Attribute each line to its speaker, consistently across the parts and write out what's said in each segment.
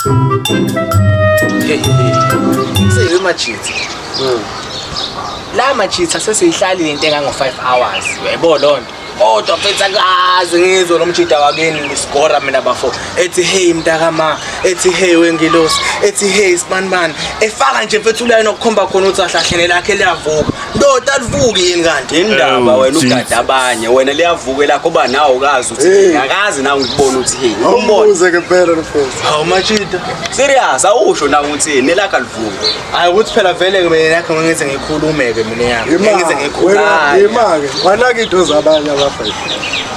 Speaker 1: Seyiwe machithi. Mm. La machithi sesiyihlali lento engango 5 hours. Yebo lonto. Kodwa mfethu akazi ngizwe lo mjida wakini ngisigora mina bafo. Ethi hey mntakama, ethi hey wengilosi, ethi hey sibanibani. Efaka nje mfethu ulayo nokukhomba khona ukuthi ahlahlene lakhe liyavuka. ndoda alivuki yini kanti indaba wena ugada
Speaker 2: abanye wena liyavuka elakho uba nawe ukazi uthi akazi nawe ngikubona uthini umbuze ke phela
Speaker 3: mfethu hawu machita
Speaker 1: serious awusho
Speaker 2: nawe uthini nelakho alivuki hayi ukuthi phela vele
Speaker 1: ke mina yakho ngize ngikhulume ke mina yami ngize ngikhulume imake wanaka
Speaker 3: into zabanye abafana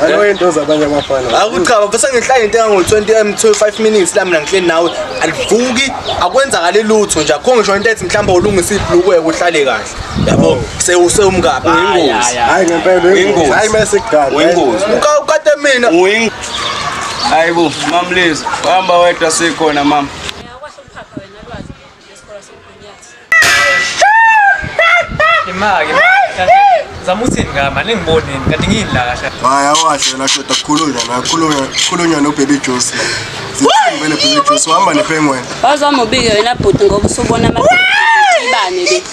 Speaker 3: Alo eh? into zabanye abafana. Akuchaba bese ngihlaya
Speaker 1: into engango 20 m 25 minutes la mina ngihleli nawe alivuki akwenzakali lutho nje akho ngisho into ethi mhlawumbe ulungisa ibhlukwe uhlale kahle yabo sewusewumkabi uyingozi hayi ngempela uyingozi
Speaker 3: hayi mase kudala uyingozi ukade
Speaker 2: mina
Speaker 1: uyingozi
Speaker 2: hayibo mamlezi hamba wedwa sikhona mama
Speaker 4: Imake. Zama uthini ngama ningibonini kanti ngiyini la kahle. Hayi awasho la
Speaker 3: shoda kukhulunywa la kukhulunywa kukhulunywa no baby juice. Zithini vele baby juice uhamba ne penguin. Wazama ubike wena
Speaker 5: bhuti ngoba usubona ama ibane le.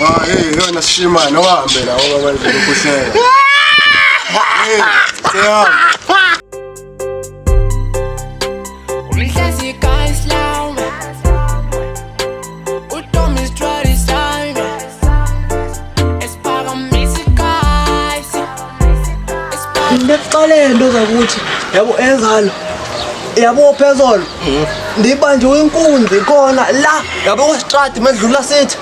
Speaker 5: Ah hey
Speaker 3: yona shima no hambe la ngoba manje ukuhleka. Hey, siyahamba.
Speaker 6: into zakuthi yabo enzalo yabo phezolo ndibanjwe inkunzi khona la yabo kwestrad medlula sithi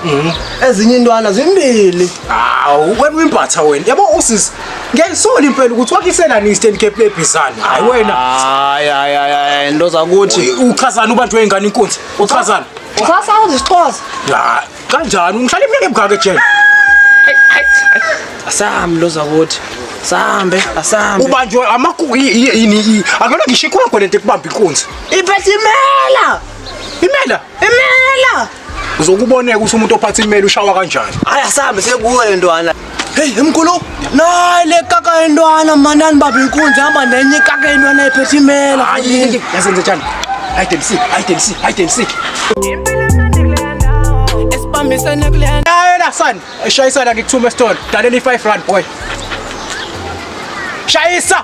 Speaker 6: ezinye intwana zimbili hawu wena
Speaker 7: uyimbatha wena yabo usisi Ngiyayisoli impela ukuthi wakisela ni stand cap le bizana. Hayi wena. Hayi hayi hayi
Speaker 6: into zakuthi uchazana ubanjwe ingane
Speaker 7: inkunzi. Uchazana. Xhosa uzixhosa.
Speaker 6: Ya,
Speaker 7: kanjani ungihlala iminyaka emgaka ejele?
Speaker 6: Asambi lo zakuthi. Sambe, asambe. Ubanjwe amakuku
Speaker 7: yini? Akona ngisho ikhona lento ekubamba inkunzi. Ibethi imela.
Speaker 6: Imela.
Speaker 7: Imela. Uzokuboneka ukuthi umuntu ophatha imeli ushawa kanjani. Hayi asambe sekuwe
Speaker 6: le ntwana. Hey mkhulu, nayi le kaka yentwana manani baba inkunzi hamba nenye ikaka yentwana ephethe imela. Hayi, yazi ngizothanda.
Speaker 7: Hayi Dempsey, hayi Dempsey, hayi Dempsey.
Speaker 6: Esibambisene kule ndawo. Hayi la son,
Speaker 7: eshayisana ngikuthuma esitolo. Dalela i5 rand boy. Shayisa!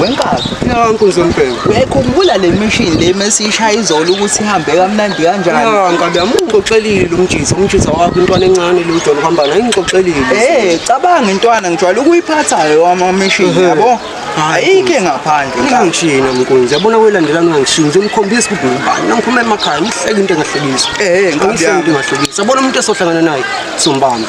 Speaker 8: wenkazi nkunzi
Speaker 3: yombheko uyayikhumbula le mishini
Speaker 8: le mesiyishaya izolo ukuthi ihambe kamnandi kanjani nkabi yami
Speaker 3: ungixoxelile umjisa umjisa wakho intwana encane le ujolo kuhamba nayo ingixoxelile um cabanga intwana
Speaker 8: ngijwayele ukuyiphathayo amamishini yabo ayikhe ngaphandle ungangishiyi nami nkunzi
Speaker 3: yabona kwelandelani ungangishiyi nje umkhombisa ukuthi ngubani nangiphuma emakhaya ngihleke into engahlekisi um ngihleke into engahlekisi yabona umuntu esohlangana naye sombamba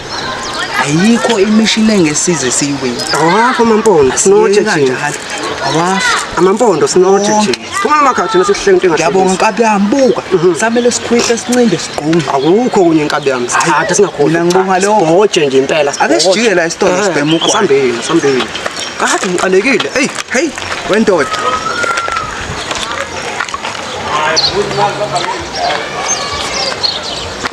Speaker 8: ayikho imishini engesize siyiwini awakho amampondo
Speaker 3: sinothe thina awakho
Speaker 8: amampondo
Speaker 3: sinothe thina phuma amakhathi thina sikuhlele into engathi yabonga nkabi yami buka
Speaker 8: mhm. samele sikhwihle sincinde sigqume akukho kunye nkabi
Speaker 3: yami sithatha singakhona ngibonga leyo hoje
Speaker 8: nje impela ake
Speaker 3: sijike la isitolo
Speaker 8: eh, sibhema ukwa sambeni sambeni
Speaker 3: kade ngiqalekile hey hey
Speaker 8: wendoda Thank you.